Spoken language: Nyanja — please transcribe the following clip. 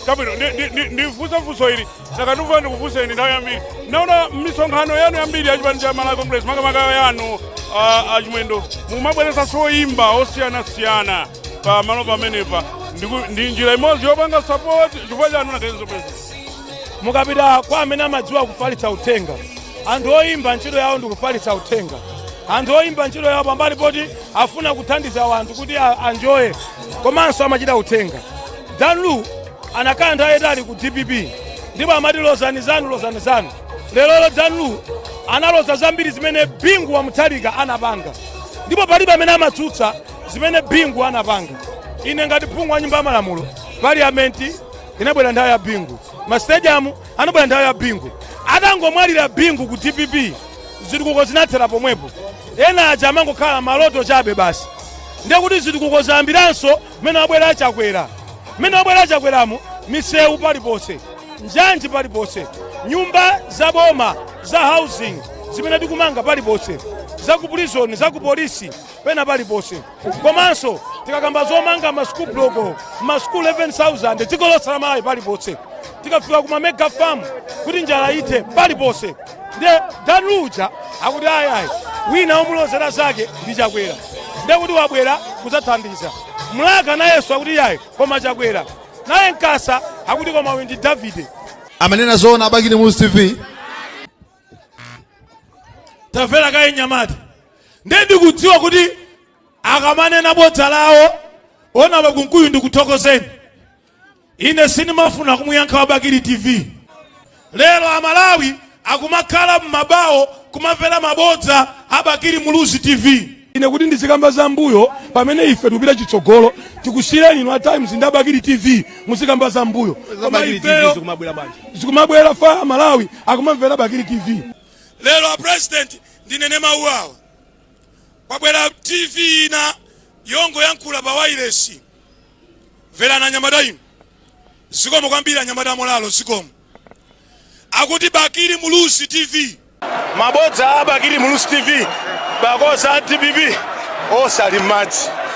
chabwino ndi- ndi- ndi- ndifunse funso ili takandifuka ndikufunseni nthawi yambiri ndaona misonkhano yanu yambiri yachipani cha malawi congress makamaka yanu ah, achimwendo mumabweretsanso oyimba osiyanasiyana pa malo pamenepa Ndiku- ndi njira imodzi yopanga support chifukwa chanu nakenzo pesa mukapita kwa amene amadziwa kufalitsa uthenga anthu oyimba ntchito yawo ndi kufalitsa uthenga anthu oyimba ntchito yawo pambali poti afuna kuthandiza wanthu kuti a- anjoye komanso amachita uthenga Dan Lu anakhala nthawi yayitali ku dpp ndipo amati lozani zanu lozani zanu lerolo Dan Lu analoza zambiri zimene bingu wa mutharika anapanga ndipo palibe amene amatsutsa zimene bingu anapanga ine ngati phungu wa nyumba ya malamulo parliament inabwera nthawi ya bingu masitediamu anabwera nthawi ya bingu atangomwalira bingu ku dpp zitukuko zinathera pomwepo ena aja amangokhala maloto chabe basi ndiye kuti zitukuko zayambiranso Mmene wabwera a Chakwera, mmene wabwera a Chakweramu, misewu paliponse, njanji paliponse, nyumba za boma za housing zimene tikumanga paliponse, za ku prison, za ku polisi, pena paliponse. Komanso tikakamba zomanga ma school block, ma school 11,000 dziko lonse la Malawi paliponse, tikafika ku ma mega farm kuti njala ithe paliponse. nde dan luja akuti ayayi wina omulozera zake ndi chakwera nde kuti wabwera kudzathandiza mlaka nayenso akuti yayi koma chakwera naye nkasa akuti koma uyu ndi davide amanena zoona a bakili muluzi tv tamvera kaye nyamata nde ndikudziwa kuti akamanena bodza lawo honourable kunkuyu ndikuthokozeni ine sindimafuna kumuyankha wa bakili tv lero amalawi akumakhala m'mabawo kumamvera mabodza a bakili muluzi tv ine kuti ndizikamba za mbuyo pamene ife tikupita chitsogolo tikusiyireni inu a times ndi a bakili tv muzikamba za mbuyo koma Bakili TV ifeyo zikumabwera bwanji zikumabwera fa amalawi akumamvera bakili tv lero apresident ndinene mawu awa kwabwera tv ina yongoyankhula pa wailesi Mverani anyamata inu. Zikomo kwambiri anyamata a Molalo zikomo. Akuti Bakili Muluzi TV. Mabodza a Bakili Muluzi TV, because a dpp onse ali m'madzi.